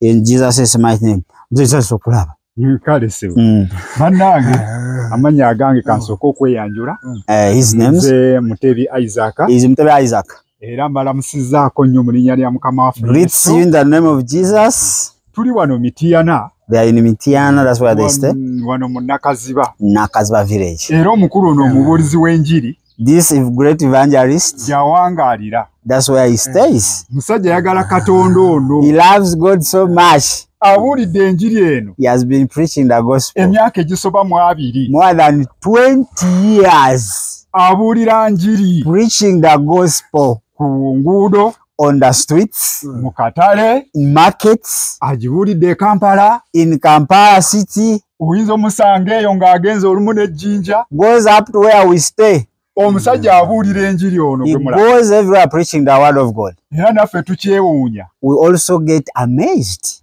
in jesus is my name jesus okulaba mm, kale sebo mm. banange amanya agange kansoka okweyanjula eh, his name is mutebi isaac is mutebi isaac era mbalamusizaako nnyo mu linnya lya mukama waffe greets you in the name of jesus tuli wano mitiyana they are in Mitiana, that's where they stay. Wano mu Nakaziba. Nakaziba village. Era omukulu ono omubuulizi w'enjiri. This is great evangelist. Jawangalira. That's where he eh. stays. Musajja yagala Katonda ono. He loves God so much. Abulidde enjiri eno. He has been preaching the gospel. Emyaka egisoba mu abiri. More than 20 years. Abulira njiri. Preaching the gospel. Ku nguudo. on the streets mm. mu katale in markets agibuulidde e kampala in kampala city oyinza omusanga eyo ng'agenze olumu n'ejjinja goes up to where we stay omusajja abuulira enjiri ono goes everywhere preaching the word of god era naffe tukyewuunya we also get amazed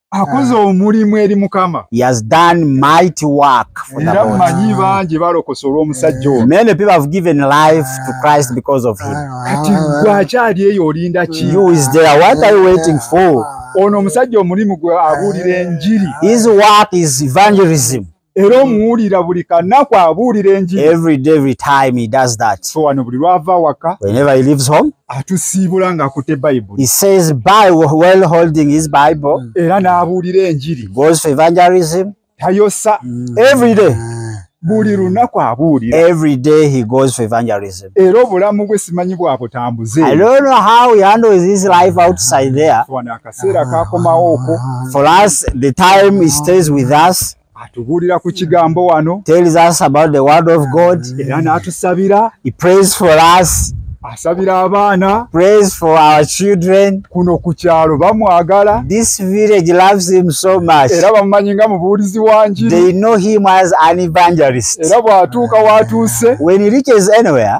akoze omulimu eri mukama he has done mighty work for the era Lord. manyi bangi balokosa olw'omusajja ono Many people have given life to Christ because of him. kati gwe akyali eyo olinda ki You is there. What are you waiting for? ono omusajja omulimu gwe abuulira enjiri His work is evangelism. era omuwulira buli kanaku abuulira enjiriwano buli lwava waka atusiibula nga akute bayibulera n'abuulira enjiri tayosa mm. buli lunaku abuulira every day he goes for evangelism era obulamu bwe simanyi bwabutambuze i don't know how he handles his life outside there akaseera kakomawo okwo for us the time he stays with us atubuulira ku kigambo wano tells us about the word of god era n'atusabira he prays for us asabira abaana prays for our children kuno ku kyalo bamwagala this village loves him so much era bamumanyi nga mubuulizi wa njiri they know him as an evangelist era bw'atuuka w'atuuse when he reaches anywhere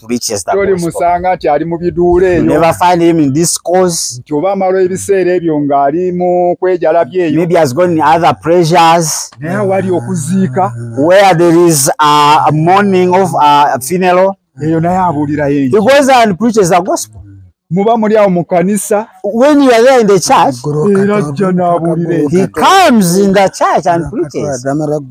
to reach the gospel. Toli musanga ati ali mu biduule eyo. Never find him in this cause. Nti oba amalo ebiseera ebyo nga ali mu kwejala byeyo. Maybe has gone in other pressures. Naye awali okuziika. Where there is a, a mourning of a funeral. Eyo naye abuulira yenyi. He goes and preaches the gospel. muba muli awo mu kanisa when you are there in the church era ajja n'abulira he comes in the church and preaches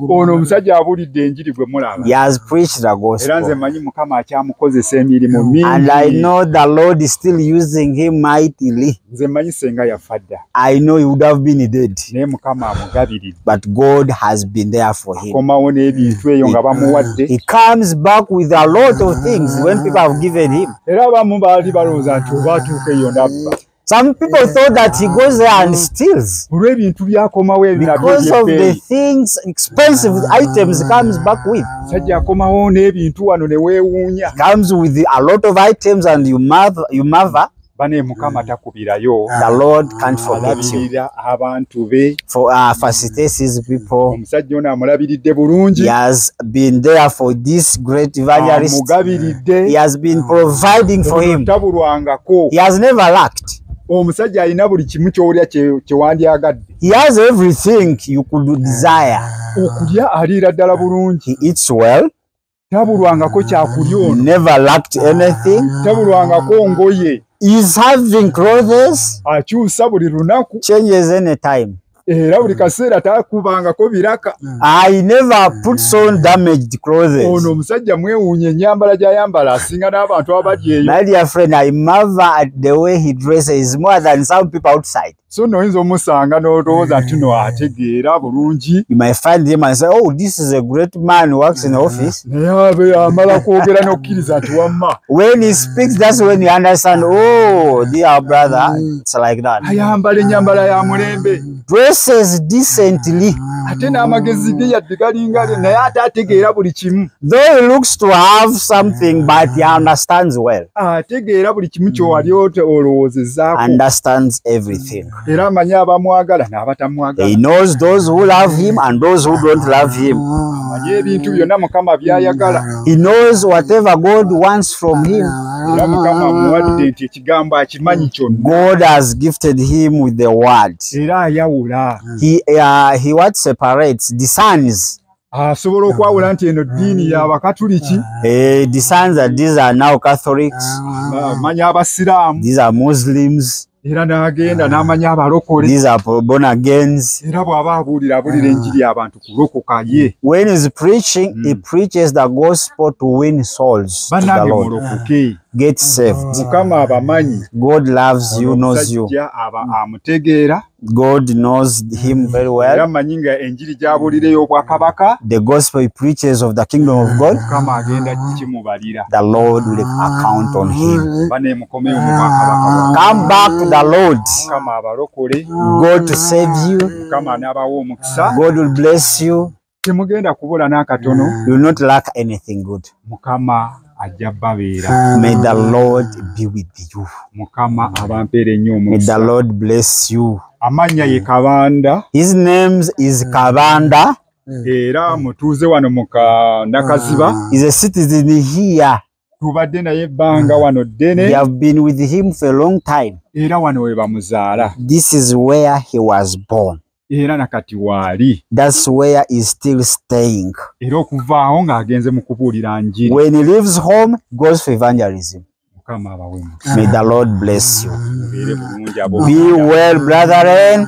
ono omusajja abulidde enjiri gwe mulaba he has preached the gospel era nze manyi mukama akyamukozesa emirimu mingi and i know the lord is still using him mightily nze manyi senga yafa dda i know he would have been dead naye mukama amugabiridde but god has been there for him akomawo n'ebintu eyo nga bamuwadde he comes back with a lot of things when people have given him era abamu baali balowooza nti oba atuuka eyo nabba Some people thought that he goes there and steals. Because of the things, expensive items comes back with. Comes with a lot of items and you mother, you mother. tebakufirayo ah, the lord can't ah, forget you abantu be for uh, ah, facilitates people omusajja ono amulabiridde bulungi he has been there for this great evangelist amugabiridde he has been providing for him tabulwangako he has never lacked omusajja alina buli kimu kyowulya kyewandyagadde he has everything you could desire okulya aliira ddala bulungi he eats well tabulwangako kyakulya ono never lacked anything tabulwangako ngoye is having clothes akyusa buli lunaku changes any time era buli kaseera takubangako biraka i never puts on damaged clothes ono omusajja mwewuunya enyambala gyayambala asinga n'abantu abali eyo my dear friend i marvel at the way he dresses more than some people outside so no oyinza omusanga n'olowooza nti no ategeera bulungi oh, naye amala kwogera n'okukkiriza nti wamma ayambala ennyambala ya mulembe ate n'amagezi ge yadde galinga naye ate ategeera buli kimu though he looks to have something but he understands well ategeera buli kimu kyowali mm. ote olowoozezzaako understands everything era amanyi abamwagala n'abatamwagala he knows those who love him and those who don't love him amanyi ebintu byonna mukama by'ayagala he knows whatever god wants from him era mukama amuwadde nti ekigambo akimanyi kyonna god has gifted him with the word era ayawula he, uh, he what separates discerns asobola okwawula nti eno ddiini yabakatuliki eh, ah. manya abasiraamu era n'agenda n'amanya abalokole era bw'aba abuulira abuulira ah. enjiri abantu kulokoka ye banange mulokoke mukama abamanyi amutegeera God knows him very well. Era manyi nga enjiri gy'abuulira ey'obwakabaka. The gospel he preaches of the kingdom of God. Mukama agenda kimubalira. The Lord will account on him. Mm. Bane mukomeyo mu bwakabaka. Come back to the Lord. Mukama abalokole. God to save you. Mukama n'abawa omukisa. God will bless you. temugenda kubula n'akatono ah. mukama ajja babeera ah. may the lord be with you mukama abampeera ennyo omumsa lord bless you amannya ye kabanda his names is mm. kabanda mm. era mutuuze wano mu nakaziba ah. is a citizen here tubadde naye ebbanga mm. wano ddene we have been with him for a long time era wano we bamuzaala this is where he was born era nakati waali that's where is still staying era okuvaawo ng'agenze mu kubuulira njiri when he leaves home goes for evangelism mukama abawe may the lord bless you be well brethren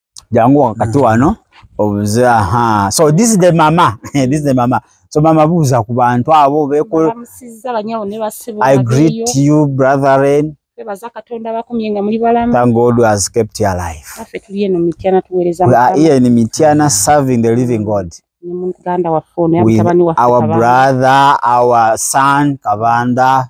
jangu wakati mm. wano obuze aha so this is the mama this is the mama so mama buuza ku bantu abo beko i greet you brethren twebaza katonda bakumye nga muli balamu thank god who has kept your life affe tuli eno mityana tuweereza we are here in mityana serving the living god muganda waffe ono yamutabani waffe our brother our son kabanda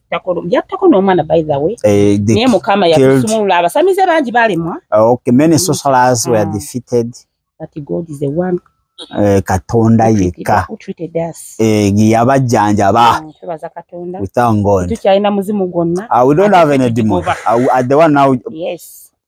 yattako n'omwana by the way eh, naye mukama yakusumulula abasamize bangi balemwa ah, okay many socialists were ah. defeated but god is the one eh, katonda yekka eh, yabajjanjaba tukyalina muzimu gwonna ah, we don't have any demon at the one now yes